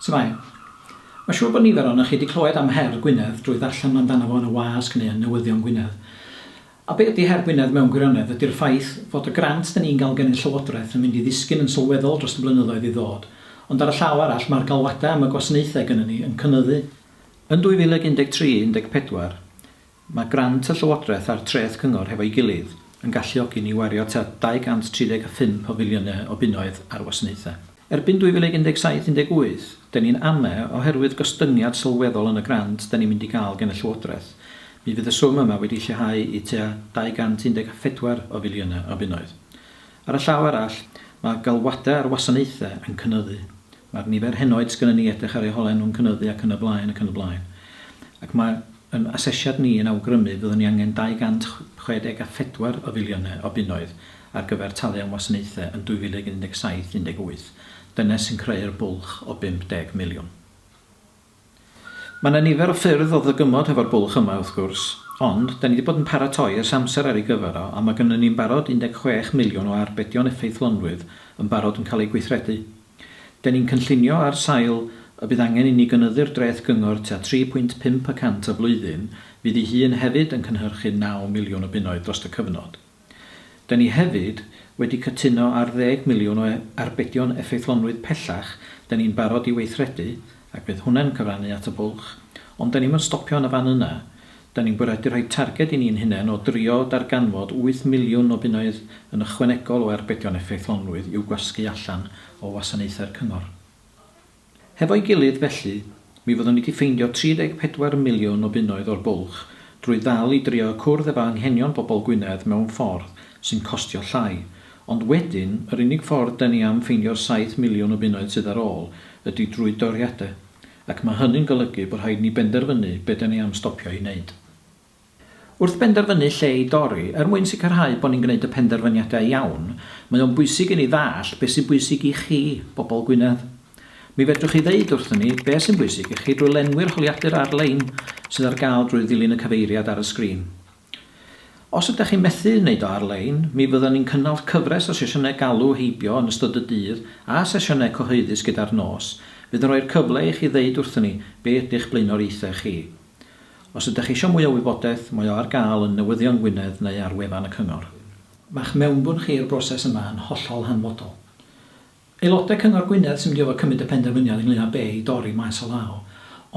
Shwmae. Mae'n siŵr bod nifer ohonoch chi wedi clywed am her Gwynedd drwy ddarllen amdano fo yn y wasg neu yn newyddion Gwynedd. A be ydy her Gwynedd mewn gwirionedd? Ydy'r ffaith fod y grant 'da ni'n gael gen y Llywodraeth yn mynd i ddisgyn yn sylweddol dros y blynyddoedd i ddod, ond ar y llaw arall mae'r galwadau am y gwasanaethau gynnon ni yn cynyddu. Yn 2013, 14, Mae grant y Llywodraeth a'r Treth Cyngor hefo'i gilydd yn galluogi ni i wario tua 235 o filiynau o bunnoedd ar wasanaethau. Erbyn 2017, 18, 'da ni'n ame' oherwydd gostyngiad sylweddol yn y grant 'da ni'n mynd i gael gen y Llywodraeth, mi fydd y swm yma wedi lleihau i tua 214 o filiynau o bunnoedd. Ar y llaw arall, mae galwadau ar wasanaethau yn cynyddu, mae'r nifer henoed sgynnon ni i edrych ar eu hole nhw'n cynyddu ac yn y blaen ac yn y blaen. Ac mae yn asesiad ni yn awgrymu fyddwn ni angen 264 o filiynau o bunnoedd ar gyfer talu am wasanaethau yn 2017-18. Dyna sy'n creu'r bwlch o 50 miliwn. Mae 'na nifer o ffyrdd o ddygymod hefo'r bwlch yma, wrth gwrs, ond 'dan ni 'di bod yn paratoi ers amser ar ei gyfer o, a mae gynnon ni'n barod 16 miliwn o arbedion effeithlonrwydd yn barod yn cael eu gweithredu. 'Den ni'n cynllunio ar sail y bydd angen i ni gynyddu'r dreth gyngor tua 3.5 y cant y flwyddyn, fydd hi hun hefyd yn cynhyrchu naw miliwn o bunnoedd drost y cyfnod. Dyn ni hefyd wedi cytuno ar ddeg miliwn o arbedion effeithlonrwydd pellach, dyn ni'n barod i weithredu, ac bydd hwnna'n cyfrannu at y bwlch, ond dyn ni'm yn stopio yn y fan yna, dyn ni'n bwriadu rhoi targed i ni'n hunain o drio darganfod wyth miliwn o bunnoedd yn ychwanegol o arbedion effeithlonrwydd i'w gwasgu allan o wasanaethau'r cyngor. Hefo'i gilydd, felly, mi fyddwn ni 'di ffeindio 34 miliwn o bunnoedd o'r bwlch drwy ddal i drio cwrdd efo anghenion bobol Gwynedd mewn ffordd sy'n costio llai, ond wedyn, yr unig ffordd 'da ni am ffeindio'r saith miliwn o bunnoedd sydd ar ôl ydi drwy doriade, ac ma' hynny'n golygu bo rhaid ni benderfynu be' 'da ni am stopio i neud. Wrth benderfynu lle i dorri, er mwyn sicrhau bod ni'n gwneud y penderfyniadau iawn, mae o'n bwysig i ni ddallt beth sy'n bwysig i chi, bobl Gwynedd. Mi fedrwch chi ddeud wrthon ni beth sy'n bwysig i chi drwy lenwi'r holiadur ar-lein sydd ar gael drwy ddilyn y cyfeiriad ar y sgrin. Os ydych chi'n methu wneud o ar-lein, mi fyddwn ni'n cynnal cyfres o sesiynau galw heibio yn ystod y dydd a sesiynau cyhoeddus gyda'r nos fydd yn rhoi'r cyfle i chi ddeud wrthon ni be ydy'ch blaenoriaethau chi. Os ydych eisiau mwy o wybodaeth, mae o ar gael yn Newyddion Gwynedd neu ar wefan y Cyngor. Mae'ch mewnbwn chi i'r broses yma yn hollol hanfodol. Aelodau Cyngor Gwynedd sy'n mynd i orfod cymryd y penderfyniad ynglŷn â be i dorri maes o law,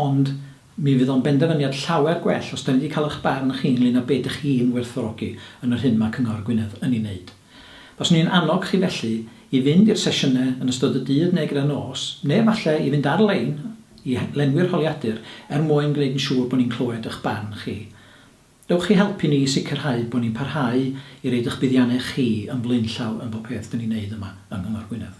ond mi fydd o'n benderfyniad llawer gwell os 'da ni 'di cael eich barn chi ynglŷn â be dych chi'n werthfawrogi yn yr hyn mae Cyngor Gwynedd yn ei wneud. Baswn i'n annog chi felly i fynd i'r sesiynau yn ystod y dydd neu gyda'r nos, neu falle i fynd ar-lein i lenwi'r holiadur er mwyn gwneud yn siŵr bod ni'n clywed eich barn chi. Dewch i helpu ni i sicrhau bod ni'n parhau i roid eich buddiannau chi yn flaenllaw yn bob peth 'dyn ni'n neud yma yng Nghyngor Gwynedd.